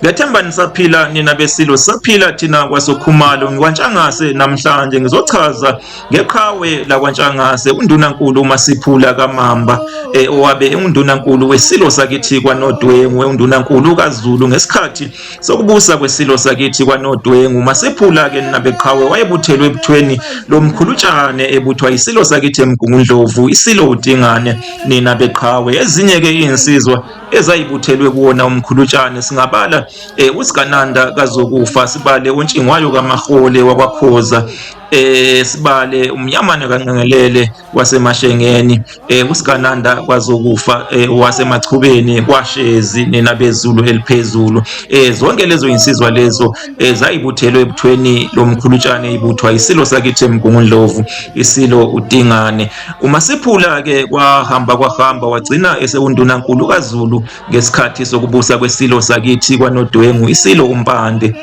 Ngiyathemba nisaphila nina beSilo, sisaphila thina kwaSokhumalo. NgikwaNtshangase namhlanje ngizochaza ngeqhawe lakwaNtshangase, uNdunankulu uMasiphula kaMamba eh, owabe enguNdunankulu weSilo sakithi kwaNodwengu, uNdunankulu kaZulu ngesikhathi sokubusa kweSilo sakithi kwaNodwengu. UMasiphula ke nabeqhawe wayebuthelwe ebuthweni lomkhulutshane ebuthwa iSilo sakithi eMgungundlovu, iSilo uDingane nina beqhawe. Ezinye ke izinsizwa ezayibuthelwe kuwona umkhulutshane singabala eh usigananda kazokufa sibale untshingwayo kamahole wakwakhoza eh sibale umnyamana kanqengelele wasemashengeni eh usigananda kwazokufa eh, wasemachubeni kwashezi nina bezulu eliphezulu eh zonke lezo insizwa lezo eh, zayibuthelwe ebuthweni lomkhulutshane ibuthwa isilo sakithi emgungundlovu isilo udingane UMasiphula-ke kwahamba kwahamba wagcina esewundunankulu kaZulu ngesikhathi sokubusa kweSilo sakithi kwaNodwengu, iSilo uMpande.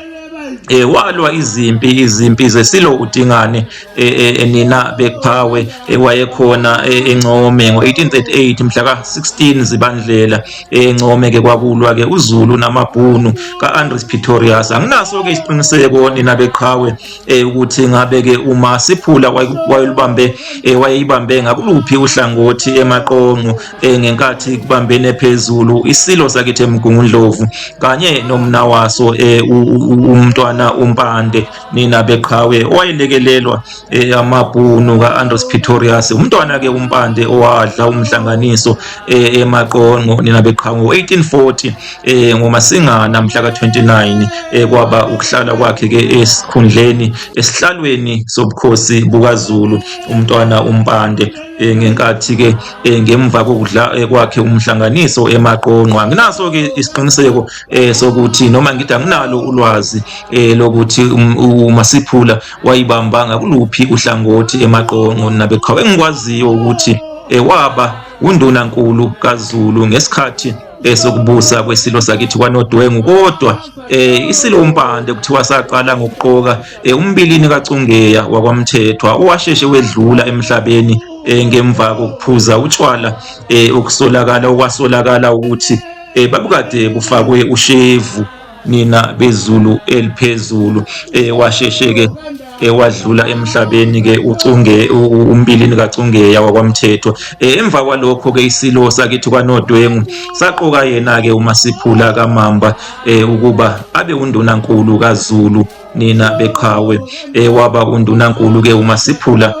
eh walwa izimpi izimpi zesilo uDingane eh, eh, eh, nina bekuphawe wayekhona eNcome ngo1838 mhla ka16 zibandlela eNcome ke kwakulwa ke uZulu namabhunu kaAndres Pretorius anginaso ke isiqiniseko nina beqhawe eh ukuthi ngabe ke uma siphula wayelibambe eh, wayeyibambe ngakuluphi uhlangothi emaqonqo eh, ngenkathi kubambene phezulu isilo sakithi emgungundlovu kanye nomna waso eh, umntwana umpande nina beqhawe owayelekelelwa amabhunu kaAndros Pretorius umntwana ke umpande owadla umhlanganiso emaqonqo nina beqhawe 1840 eh ngoMasingana mhla ka-29 eh kwaba ukuhlala kwakhe ke esikhundleni esihlalweni sobukhosi bukaZulu umntwana uMpande eh, ngenkathi ke eh, ngemva kokudla eh, kwakhe umhlanganiso emaqonqwa nginaso ke isiqiniseko eh, sokuthi noma ngithi anginalo ulwazi eh, lokuthi um, uMasiphula wayibamba ngakuluphi uhlangothi emaqonqo nabeqhawe engikwaziyo ukuthi eh, waba undunankulu kaZulu ngesikhathi esokubusa kwesilo sakithi kwanodwengu kodwa eh isilo umpande kuthiwa saqala ngokuqoka eh, umbilini kacungeya wakwamthethwa owasheshe wedlula emhlabeni eh, ngemva kokuphuza utshwala eh, okusolakala okwasolakala ukuthi eh, babukade kufakwe ushevu nina bezulu eliphezulu eh, washeshe ke ewadlula emhlabeni ke ucunge umbilini kacungeya wakwamthethwa e, emva kwalokho ke isilo sakithi kwanodwengu saqoka yena ke umasiphula kamamba e, ukuba abe undunankulu kaZulu nina beqhawe eh, waba undunankulu ke uma siphula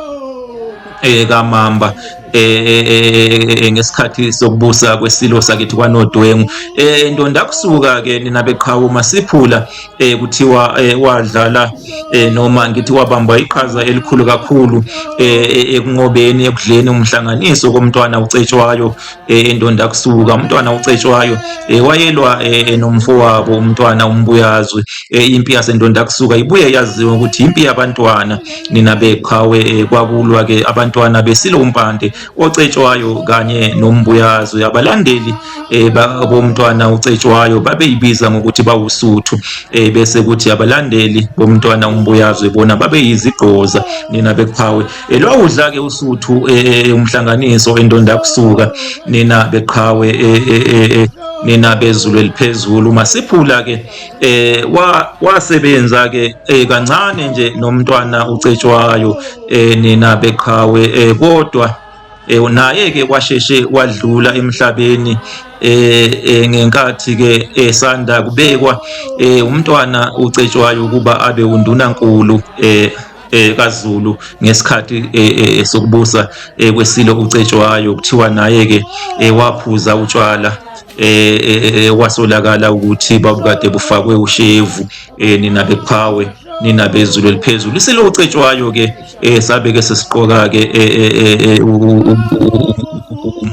eh, kamamba eh, ngesikhathi sokubusa kwesilo sakithi kwanodwengu eh ndonda kusuka ke nina beqhawe uma siphula eh kuthiwa wadlala eh noma ngithi wabamba iqhaza elikhulu kakhulu eh ekunqobeni ekudleni umhlanganiso komntwana ucetshwayo eh, endonda kusuka umntwana ucetshwayo eh, wayelwa eh, nomfowabo umntwana umbuyazwe eh, impi yasendonda kusuka ibuye yaziwa ukuthi impi yabantwana nina beqhawe eh, kwakulwa ke abantwana besilo umpande ocetshwayo kanye nombuyazwe abalandeli eh, ba- bomntwana ucetshwayo babeyibiza ngokuthi bawusuthu eh, bese kuthi abalandeli bomntwana umbuyazwe bona babeyizigqoza nina beqhawe elwawudla ke usuthu eh, eh, eh, umhlanganiso endonda kusuka nina beqhawe nina bezulu eliphezulu masiphula ke eh wasebenza ke kancane nje nomntwana ucetshwayo nina beqhawe kodwa naye ke kwasheshe wadlula emhlabeni eh ngenkathi ke esanda kubekwa umntwana ucetshwayo ukuba abe undunankulu eh eh kaZulu ngesikhathi eh, eh, eh, sokubusa kwesilo uCetshwayo kuthiwa naye ke waphuza utshwala eh kwasolakala ukuthi babukade bufakwe ushevu nina beqhawe nina bezulu eliphezulu isilo uCetshwayo ke sabe ke sesiqoka ke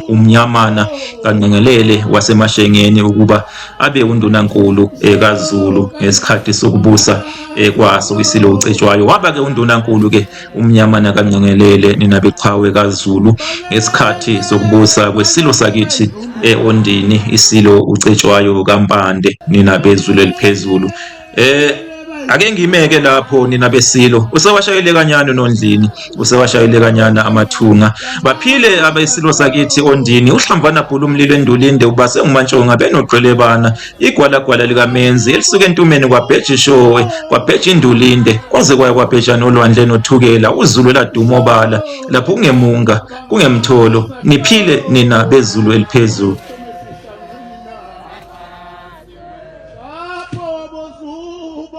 umnyamana kanqengelele wasemashengeni ukuba abe undunankulu kaZulu ngesikhathi sokubusa eh, kwaso isilo ucetshwayo waba-ke undunankulu-ke umnyamana kancengelele nina beqhawe kazulu ngesikhathi sokubusa kwesilo sakithi e-ondini isilo ucetshwayo kampande nina bezulu eliphezulu eh ake ngimeke lapho nina besilo usewashayele kanyana unondlini usewashayele kanyana amathunga baphile abesilo sakithi ondini uhlambana bhulu umlilo endulinde ubase umantshonga benogqelebana Igwalagwala likaMenzi elisuke entumeni kwabheja ishowe, kwabheja indulinde, kwaze kwaya kwabheja nolwandle nothukela, uZulu eladuma obala, lapho kungemunga, kungemtholo, niphile nina beZulu eliphezulu.